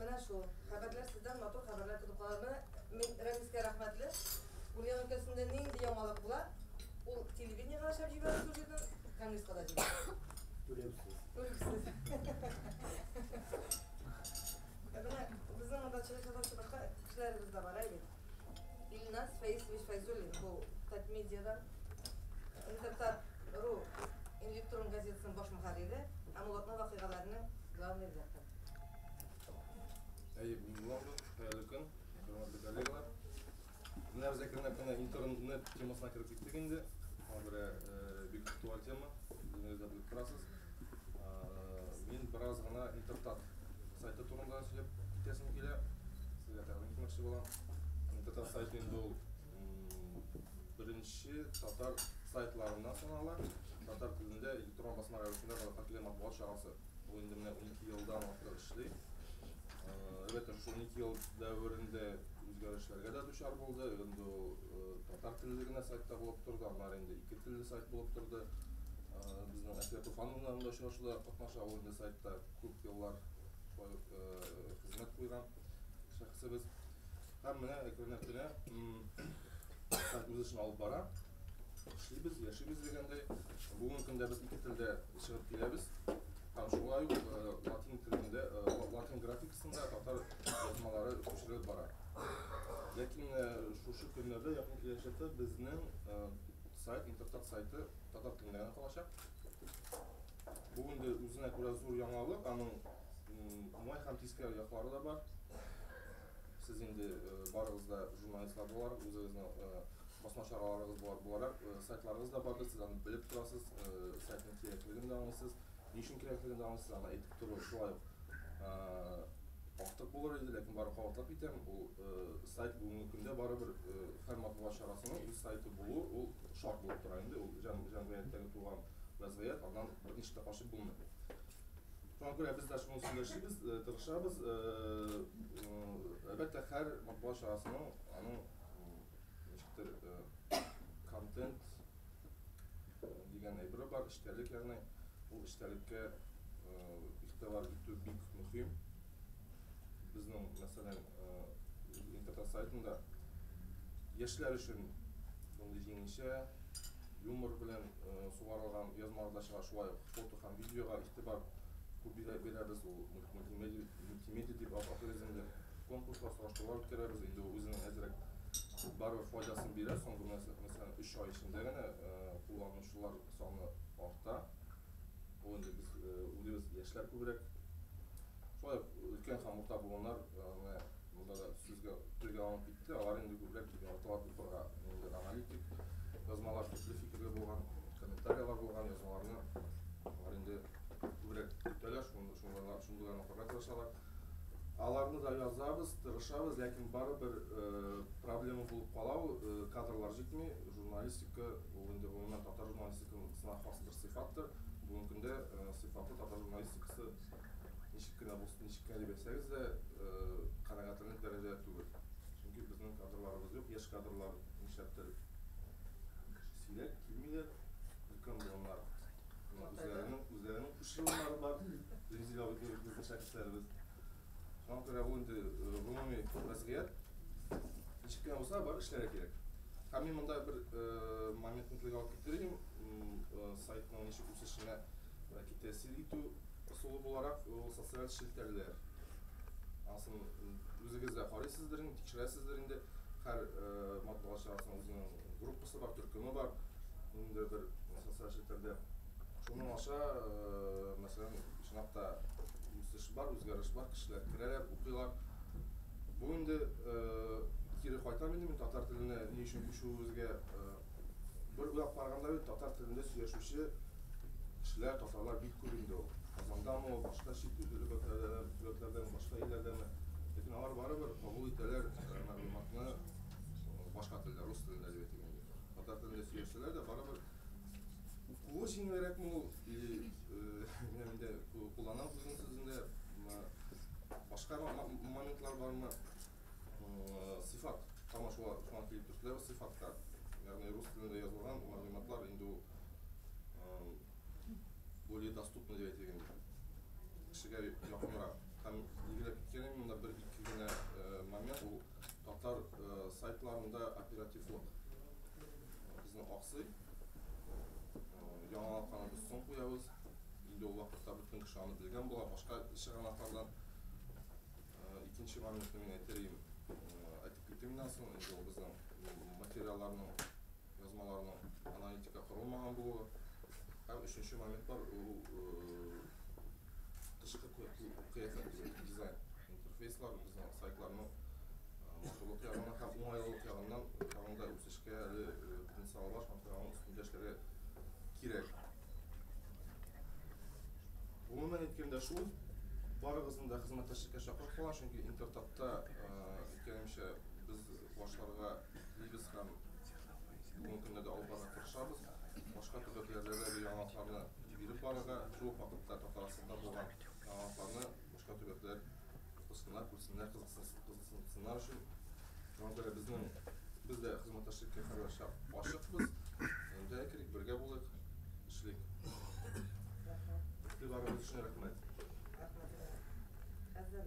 Менә шул. Хәбәрләр сездән матур хәбәрләр көтеп калырмы? Мин Рәмискә рәхмәтле. Ульян өлкәсендә нинди яңалык була, ул телевидениегә дә чыгып җибәрер шул җирдән, Конгресска да җибәрер. Түләүсез. Түләүсез. Ә менә безнең монда чыгыш ясаучы башка кешеләребез дә бар, әйе бит? Илназ Фәисович Фәйзуллин бу Татмедиадан Интертат.ру электрон газетасының баш мөхәррире һәм Улатның вакыйгаларының главный редакторы. Әйе, мин Улатны, хәерле көн, хөрмәтле коллегалар. Менә без әкренләп кенә интернет темасына кереп киттек инде. Аңа күрә бик актуаль тема, үзегез дә белеп торасыз. Мин бераз гына Интертат сайты турында сөйләп китәсем килә. Сезгә тәкъдим итмәкче булам. Интертат сайты инде ул беренче татар сайтларыннан санала. Татар телендә электрон басма рәвешендә халыкка килгән матбугат чарасы. Ул инде менә 12 елдан артык эшли. Әлбәттә, шул 12 ел дәверендә үзгәрешләргә дә дучар булды. Инде ул Татар телле генә сайтта булып торды, аннары инде ике телле сайт булып торды. Безнең Әсия Туфановна да очрашуда катнаша, ул инде сайтта күп еллар шулай ук хезмәт куйган шәхесебез. Һәм менә әкренләп кенә сайт үз эшен алып бара. Эшлибез, яшибез дигәндәй. Бүгенге көндә без ике телдә чыгып киләбез. Һәм шулай ук латин телендә, латин график Шунда татар язмалары күчерелеп бара. Ләкин шушы көннәрдә якын киләчәктә безнең сайт, Интертат сайты татар телендә генә калачак. Бу инде үзенә күрә зур яңалык, аның уңай һәм тискәре яклары да бар. Сез инде барыгыз да журналистлар буларак, үзегезнең басма чараларыгыз буларак сайтларыгыз да бардыр, сез аны белеп торасыз, сайтның кирәклеген дә аңлыйсыз. Ни өчен кирәклеген дә анысы аны әйтеп тору шулай ук артык булыр иде, ләкин бары кабатлап китәм, ул сайт бүгенге көндә барыбер һәр матбугат чарасының үз сайты булу ул шарт булып тора инде, ул җәмгыятьтәге туган вәзгыять, аннан берничек тә качып булмый. Шуңа күрә без дә шуның өстендә эшлибез, тырышабыз, әлбәттә һәр матбугат чарасының аның ничектер контент Дигән әйбере бар, эчтәлек, ягъни ул эчтәлеккә игътибар итү бик мөһим. Безнең, мәсәлән, интернет сайтында яшьләр өчен мондый җиңелчә юмор белән сугарылган язмалар да чыга, шулай ук фото һәм видеога игътибар күп бирәбез, ул мультимедиа дип атыйбыз инде. Конкурслар, сораштырулар үткәрәбез. Инде ул үзенең әзрәк барыбер файдасын бирә. Соңгы мәсәлән 3 ай эчендә генә кулланучылар саны арта. Ул инде без үзебез яшьләр күбрәк. Шулай ук өлкән һәм урта буыннар менә монда да сүзгә телгә алынып китте. Алар инде күбрәк яраталар укырга. Инде аналитик язмалар, төпле фикерле булган, комментарияләр булган язмаларны алар инде күбрәк көтәләр, шундыйларны укырга тырышалар. Аларны да язабыз, тырышабыз, ләкин барыбер проблема булып кала ул, кадрлар җитми. Журналистика ул инде гомумән татар журналистикасына хас бер сыйфаттыр. Бүгенге көндә сыйфатлы татар журналистикасы ничек кенә булсын, ничек кенә дип әйтсәгез дә, канәгатьләнерлек дәрәҗәдә түгел. Чөнки безнең кадрларыбыз юк, яшь кадрлар нишләптер сирәк килмиләр, өлкән буыннар үзләренең Шушы еллары бар Резеда Абдуллина кызы шәхесләребез. Шуңа күрә бу инде гомуми вазгыять. Ничек кенә булса бар эшләргә кирәк. Һәм мин монда бер моментны телгә алып китер идем, сайтның ничек үсешенә бәлки тәэсир итү ысулы буларак, ул социаль челтәрләр. Анысын үзегез дә карыйсыздыр инде, тикшерәсездер инде, һәр матбугат чарасының үзенең группасы бар, төркеме бар, инде бер социаль челтәрдә. Шуның аша, э, мәсәлән, чынлап та үсеш бар, үзгәреш бар, кешеләр керәләр, укыйлар. Бу инде э, кире кайтам инде мин татар теленә ни өчен күчүебезгә э, бер уйлап караганда бит татар телендә сөйләшүче кешеләр, татарлар бик күп инде ул. Казандамы ул, башка чит төбәкләрдәме, башка илләрдәме. Ләкин алар барыбер кабул итәләр э, мәгълүматны, башка телдә, рус телендә әдәбият дигән юк. Татар телендә сөйләсәләр дә, барыбер укуы җиңелрәкме ул, или инде э, куллана үзенең сүзендә башка моментлар бармы? Э, сыйфат тама шуңа шуңа килеп төште, сыйфатка. Ягъни рус телендә язылган мәгълүматлар инде ул э, более доступно дип әйтелгән кешегә якынрак. Һәм игеләп киткән монда бер ике генә момент ул Татар сайтларында оперативлык безнең аксый. Яңалыкларны без соң куябыз. Инде ул вакытта бөтен кеше аны белгән була. Башка чыганаклардан икенче моментны мин әйтер идем. Әйтеп китим моннан соң, инде ул безнең материалларның Язмаларның аналитика корылмаган булуы һәм өченче момент бар, ул тышкы кыяфәт, дизайн. Интерфейслар безнең сайтларның матурлык ягыннан һәм уңайлылык ягыннан тагын да үсешкә әле потенциалы бар, шуңа күрә аның өстендә эшләргә кирәк. Гомумән әйткәндә шул, барыгызны да хезмәттәшлеккә чакырып калам, чөнки Интертапта икәнемчә без башларга Телибез һәм бүгенге көнгә дә алып барырга тырышабыз. Башка төбәкләрдә дә бу яңалыкларны биреп барырга, шул ук вакытта Татарстанда булган яңалыкларны башка төбәкләр укысыннар, күрсеннәр, кызыксынсыннар өчен. Шуңа күрә безнең без дә хезмәттәшлеккә һәрвакытча ачыкбыз. Әйдә керик, бергә булыйк, эшлик. Игътибарыгыз өчен рәхмәт. Рәхмәт. Хәзер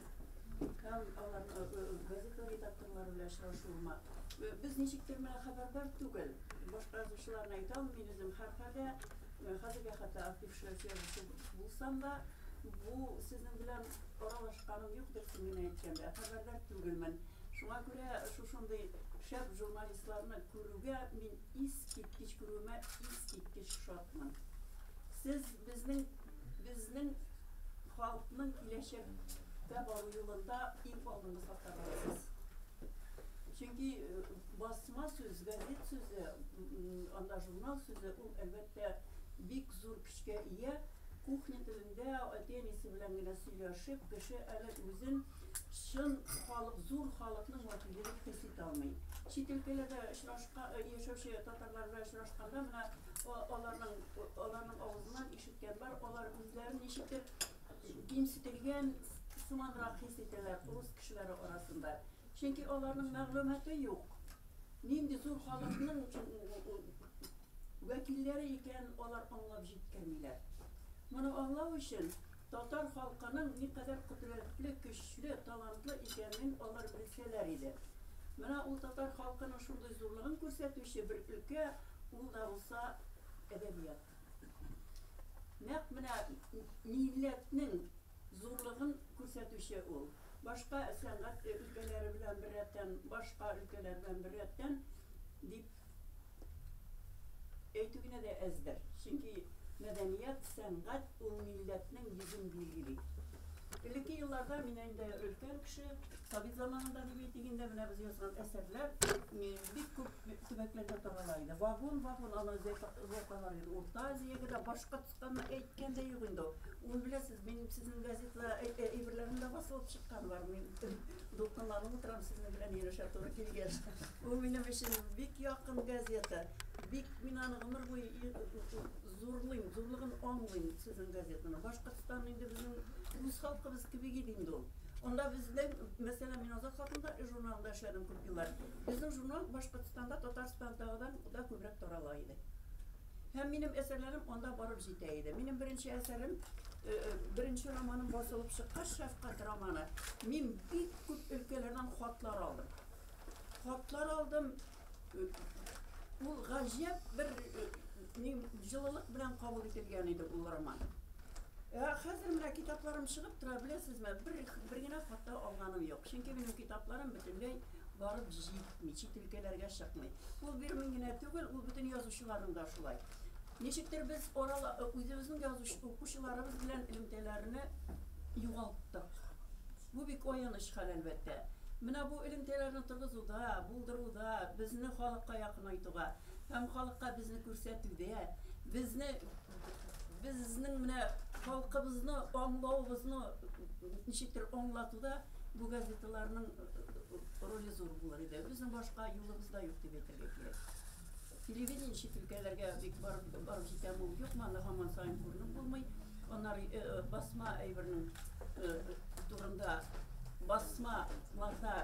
Һәм аларга газета редакторлары белән очрашуыма. Без ничектер менә хәбәрдар түгел. Башка язучыларны әйтә алмыйм үзем. Һәрхәлдә, хәзергә хәтта актившы язучы булсам да, бу сезнең белән аралашканым юктыр, чын гына әйткәндә. Хәбәрдар түгелмен. Шуңа күрә шушындый шәп журналистларны күрүгә мин искиткеч күрүемә искиткеч шатмын. Сез безнең Безнең халкның киләчәккә бару юлында иң алдынгы сафта барасыз. Чөнки басма сүз, газет сүзе, анда журнал сүзе ул әлбәттә бик зур көчкә ия. Кухня телендә әти-әнисе белән генә сөйләшеп, кеше әле үзен чын халык, зур халыкның вәкиле дип хис итә алмый. Чит өлкәләрдә очрашка яшәүче татарлар белән очрашканда менә аларның аларның авызыннан Китәләр, алар үзләрен ничектер кимсетелгән сыманрак хис итәләр урыс кешеләре арасында. Чөнки аларның мәгълүматы юк. Нинди зур халыкның вәкилләре икәнен алар аңлап җиткермиләр. Моны аңлау өчен татар халкының никадәр кодрәтле, көчле, талантлы икәнен алар белсәләр иде. Менә ул татар халкының шундый зурлыгын күрсәтүче бер өлкә, ул да булса әдәбият. Нәкъ менә милләтнең зурлыгын күрсәтүче ул. Башка сәнгать өлкәләре белән беррәттән, башка өлкәләр белән беррәттән дип әйтү генә дә әздер. Чөнки мәдәният, сәнгать ул милләтнең йөзен билгели. Элекке елларда, мин инде өлкән кеше, совет заманында дип әйтик инде, менә без язган әсәрләр Бик күп төбәкләрдә тарала иде. Вагон, вагон аны зәкалар иде. Урта Азиягә дә, Башкортстанны әйткән дә юк инде ул. Ул беләсез, минем сезнең газетла әйберләрем дә басылып чыккан бар. Мин дулкынланып утырам сезнең белән һөйләшә туры килгәч. Ул минем өчен бик якын газета. Бик мин аны гомер буе зурлыйм, зурлыгын аңлыйм сезнең газетаны. Башкортстан инде безнең үз халкыбыз кебек иде инде ул. Анда безнең, мәсәлән, мин Азат хакында журналында эшләдем. Еллар. Безнең журнал Башкортстанда Татарстандагыдан да күбрәк тарала иде. Һәм минем әсәрләрем анда барып җитә иде. Минем беренче әсәрем, беренче романым басылып чыккач, Шәфкать романы, мин бик күп өлкәләрдән хатлар алдым. Хатлар алдым, ул гаҗәп бер Мин җылылык белән кабул ителгән иде ул роман. Ә хәзер менә китапларым чыгып тора, беләсезме, бер, бер генә хата алганым юк. Чөнки минем китапларым бөтенләй барып җитми, чит өлкәләргә чыкмый. Ул бер мин генә түгел, ул бөтен язучыларның да шулай. Ничектер без арала, үзебезнең язучы укучыларыбыз белән элемтәләрне югалттык. Бу бик аяныч хәл, әлбәттә. Менә бу элемтәләрне торгызуда, булдыруда, безне халыкка якынайтуга Һәм халыкка безне күрсәтүдә, безне, безнең менә халкыбызны аңлавыбызны ничектер аңлатуда бу газеталарның роле зур булыр иде. Безнең башка юлыбыз да юк дип әйтергә кирәк. Телевидение чит өлкәләргә бик барып барып җитә бу юкмы, аны һаман саен күренеп булмый. Анар басма әйбернең турында басма лата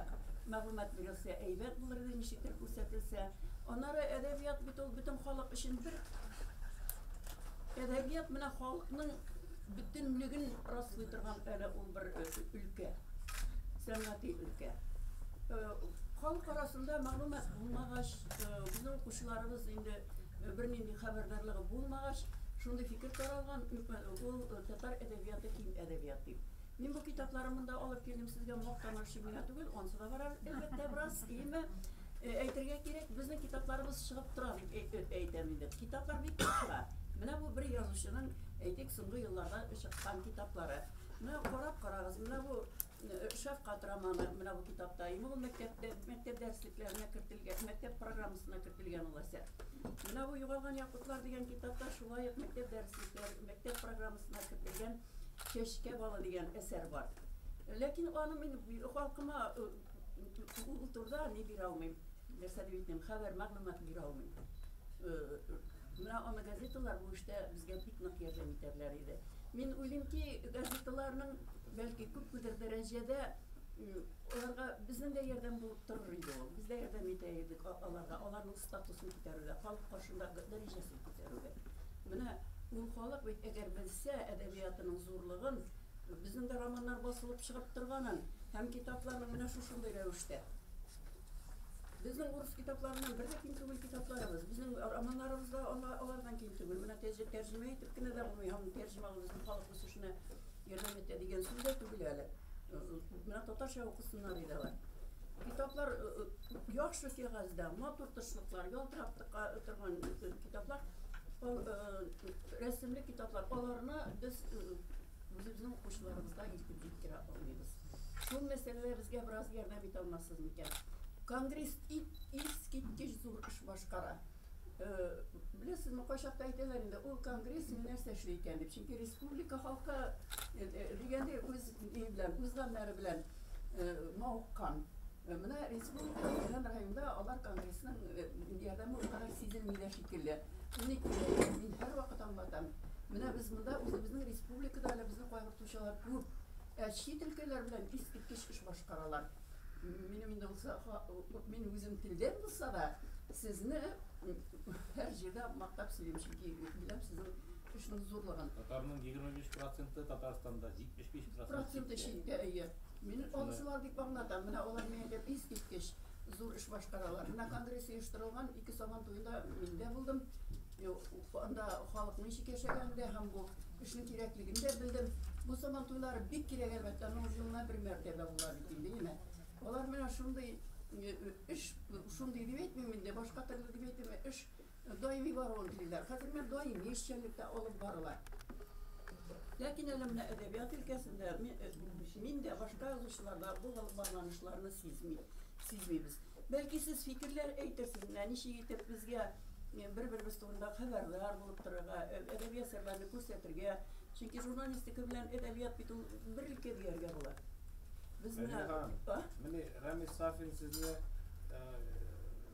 мәгълүмат бирелсә әйбәт булыр иде, ничектер күрсәтелсә. Анары әдәбият бит ул бөтен халык өчен бер әдәбият менә халыкның бөтенлеген раслый торган әле ул бер өлкә. Сәнгати өлкә. Халык арасында мәгълүмат булмагач, безнең укучыларыбыз инде Бернинди хәбәрдарлыгы булмагач, шундый фикер таралган, ул татар әдәбияты ким әдәбият дип. Мин бу китапларымны да алып килдем сезгә мактану өчен генә түгел, ансы да барар, әлбәттә, бераз, иеме? Әйтергә кирәк, безнең китапларыбыз чыгып тора дип әйтәм инде. Китаплар бик күп чыга. Менә бу бер язучының, әйтик, соңгы елларда чыккан китаплары. Менә карап карагыз, менә бу Шәфкать романы менә бу китапта. Инде ул мәктәптә, мәктәп дәреслекләренә кертелгән, мәктәп программасына кертелгән ул әсәр. Менә бу Югалган якутлар дигән китапта шулай ук мәктәп дәреслекләре, мәктәп программасына кертелгән Чәчкә балы дигән әсәр бар. Ләкин аны мин халкыма ул турыда ни бирә алмыйм, нәрсә дип әйтим, хәбәр, мәгълүмат бирә алмыйм. Менә аны газеталар бу эштә безгә бик нык ярдәм итәрләр иде. Мин уйлыйм ки, газеталарның бәлки күпмедер дәрәҗәдә аларга безнең дә ярдәм булып торыр иде ул. Без дә ярдәм итә идек аларга, аларның статусын күтәрүгә, халык каршында дәрәҗәсен күтәрүгә. Менә ул халык бит әгәр белсә әдәбиятының зурлыгын, безнең дә романнар басылып чыгып торганын һәм китапларның менә шушындый рәвештә. Безнең урыс китапларыннан бер дә ким түгел китапларыбыз. Безнең романнарыбыз да алардан ким түгел. Менә тәҗ, тәрҗемә итеп кенә дә булмый. Һәм тәрҗемәгә безнең халык үсешенә ярдәм итә дигән сүз дә түгел әле. Менә татарча укысыннар иде алар. Китаплар яхшы кәгазьдә, матур тышлыклар, ялтырап торган китаплар, рәсемле китаплар. Аларны без Үзебезнең укучыларыбызга илтеп җиткерә алмыйбыз. Шул мәсьәләдә безгә бераз ярдәм итә алмассыз микән? Конгресс ит искиткеч зур эш башкара. Беләсезме, кайчакта әйтәләр инде, ул конгресс ни нәрсә эшли икән дип. Чөнки республика халкы дигәндәй үз ни белән, үз гамьләре белән мавыккан. Менә республика җыелган районда алар конгрессның ярдәме ул кадәр сизелми дә шикелле. Шундый күренеш мин һәрвакыт аңлатам. Менә без монда үзебезнең республикада әле безне кайгыртучылар күп, ә чит өлкәләр белән искиткеч эш башкаралар. Минем инде булса, мин үзем телдән булса да, сезне һәр җирдә мактап сөйлим, чөнки беләм сезнең эшнең зурлыгын. Татарның егерме биш проценты Татарстанда, җитмеш биш проценты читтә. Проценты читтә, әйе. Мин олысына бик аңлатам. Менә алар миядә искиткеч зур эш башкаралар. Менә конгресс оештырылган ике Сабан туенда мин дә булдым. Анда халык ничек яшәгәнен дә һәм бу эшнең кирәклеген дә белдем. Бу Сабан туйлары бик кирәк, әлбәттә, аның елына бер мәртәбә була бит инде, әйеме? Алар менә шундый эш, шундый дип әйтмим инде, башка төрле дип әйтмим, эш Даими баруын телиләр. Хәзер менә даими эшчәнлек тә алып барыла. Ләкин әле менә әдәбият өлкәсендә мин дә, башка язучылар да бу багланышларны сизми, сизмибез. Бәлки сез фикерләр әйтерсез, менә ничек итеп безгә бер-беребез турында хәбәрдар булып торырга, әдәби әсәрләрне күрсәтергә. Чөнки журналистика белән әдәбият бит ул бер өлкә дияргә була. Безне, Мәдинә ханым, а? Менә Рәмис Сафин сезне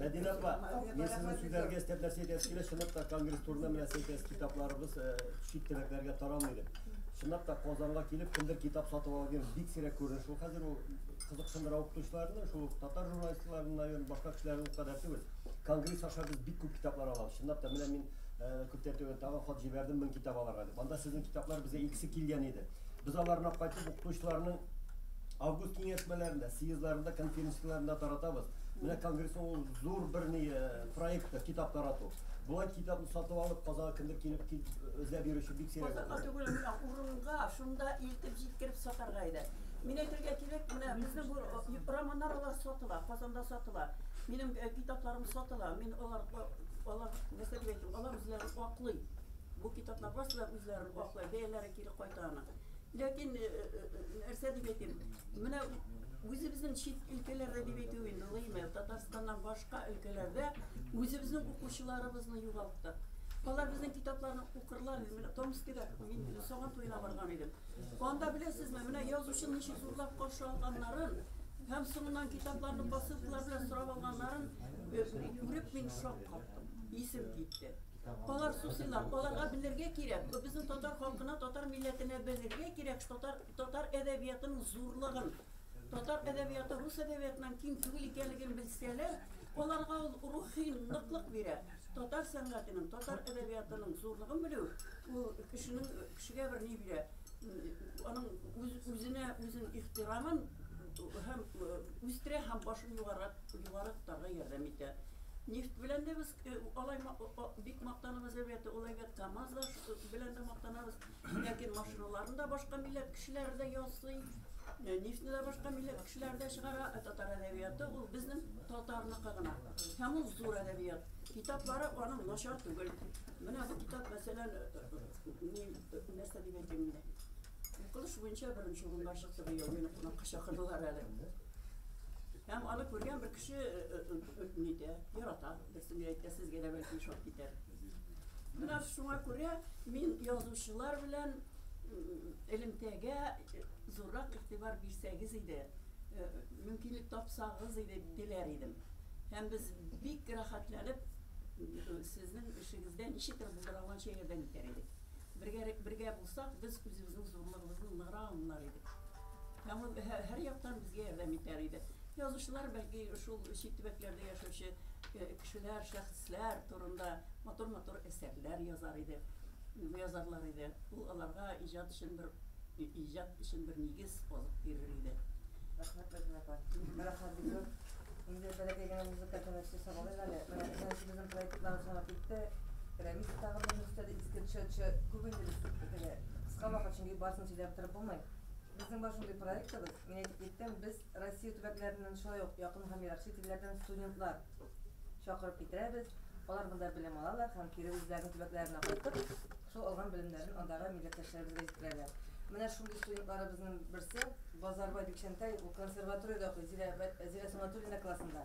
Мәдинә апа, мин сезнең сүзләргә өстәп нәрсә әйтәсе килә, чынлап та конгресс турында менә нәрсә әйтәсез, китапларыбыз э, чит төбәкләргә таралмый дип. Чынлап та Казанга килеп, кемдер китап сатып ала дигән бик сирәк күренеш ул хәзер ул кызыксындыра укытучыларны, шул ук татар журналистларын, наверное, башка кешеләрне ул кадәр түгел. Конгресс аша без бик күп китаплар алабыз. Чынлап та менә мин э, күптән түгел тагын хат җибәрдем, мең китап алырга дип. Анда сезнең китаплар безгә икесе килгән иде. Без аларны кайтып укытучыларның август киңәшмәләрендә, съездларында, конференцияләрендә таратабыз. Менә конгрессның ул зур бер ни э, проекты, китап тарату. Болай китапны сатып алып, Казанга кемдер килеп кит, эзләп йөрүче бик сирәк. Казанга түгел, менә урынга, шунда илтеп җиткереп сатарга иде. Мин әйтергә кирәк, менә безнең бу э, романнар алар сатыла, Казанда сатыла. Минем э, китапларым сатыла. Мин алар алар нәрсә дип әйтим, алар үзләрен аклый. Бу китаплар барысы да үзләрен аклый. Бәяләре Кире кайта аны. Ләкин, э, э, э, нәрсә дип әйтим, менә үзебезнең чит өлкәләрдә дип әйтү инде гыймә, Татарстаннан башка өлкәләрдә үзебезнең укучыларыбызны югалттык. Алар безнең китапларны укырлар, менә Томскида мин Сабан туена барган идем. Анда беләсезме, менә язучыны ничек зурлап каршы алганнарын һәм соңыннан китапларны посылкалар белән сорап алганнарын күреп мин шок каптым. Исем китте. Алар сусыйлар, аларга белергә кирәк, бу безнең татар халкына, татар милләтенә белергә кирәк татар, татар әдәбиятының зурлыгын, татар әдәбияты рус әдәбиятыннан ким түгел икәнлеген белсәләр, аларга ул рухи ныклык бирә. Татар сәнгатенең, татар әдәбиятының зурлыгын белү, ул кешенең, кешегә бер ни бирә, аның үз, үзенә үзен ихтирамын һәм үстерә һәм башын югарак, югары тотарга ярдәм итә. Нефть белән дә без Алай бик мактанабыз, әлбәттә, ул әйбәт КАМАЗ да белән дә мактанабыз. Ләкин машиналарны да башка милләт кешеләре дә ясый. Нефтьне дә башка милләт кешеләре дә чыгара. Ә татар әдәбияты ул безнең татарныкы гына. Һәм ул зур әдәбият. Китаплары аның начар түгел. Менә бу китап, мәсәлән, нәрсә дип әйтим инде. Укылыш буенча беренче урынга чыкты быел. Мине кунакка чакырдылар әле. Һәм аны күргән бер кеше э, э, э, нитә, ярата. Берсе ни әйтә, сезгә дә бәлки ошап китәр. Менә шуңа күрә мин язучылар белән элемтәгә зуррак игътибар бирсәгез иде, мөмкинлек тапсагыз иде диләр идем. Һәм без бик рәхәтләнеп сезнең эшегездә ничектер булдыра алганча ярдәм итәр идек. Бергә бергә булсак, без үзебезнең зурлыгыбызны ныграк аңлар идек. Һәм ул һәр яктан безгә ярдәм итәр иде. Язучылар, бәлки, шул чит төбәкләрдә яшәүче кешеләр, шәхесләр турында матур-матур әсәрләр язар иде, язарлар иде. Ул аларга иҗат өчен бер, иҗат өчен бер нигез, азык бирер иде. Рәхмәт, Фатыйма апа. Менә хәзер инде бәләкәй генә музыка тәмәкесе сагалыйм әле. Безнең проектлар җавап итте. Рәмис тагын бер нөсхәдә иске чәчә күп инде без бергә. Кыска вакыт, чөнки барысын сөйләп торып булмый. Безнең бар шундый проектыбыз, мин әйтеп киттем, без Россия төбәкләреннән, шулай ук якын һәм ерак чит илләрдән студентлар чакырып китерәбез. Алар монда белем алалар һәм кире үзләренең төбәкләренә кайтып, шул алган белемнәрен андагы милләттәшләребезгә җиткерәләр. Менә шундый студентларыбызның берсе Базарбай Бикчәнтәй, ул консерваториядә укый, Зилә Зилә Сунатуллина классында.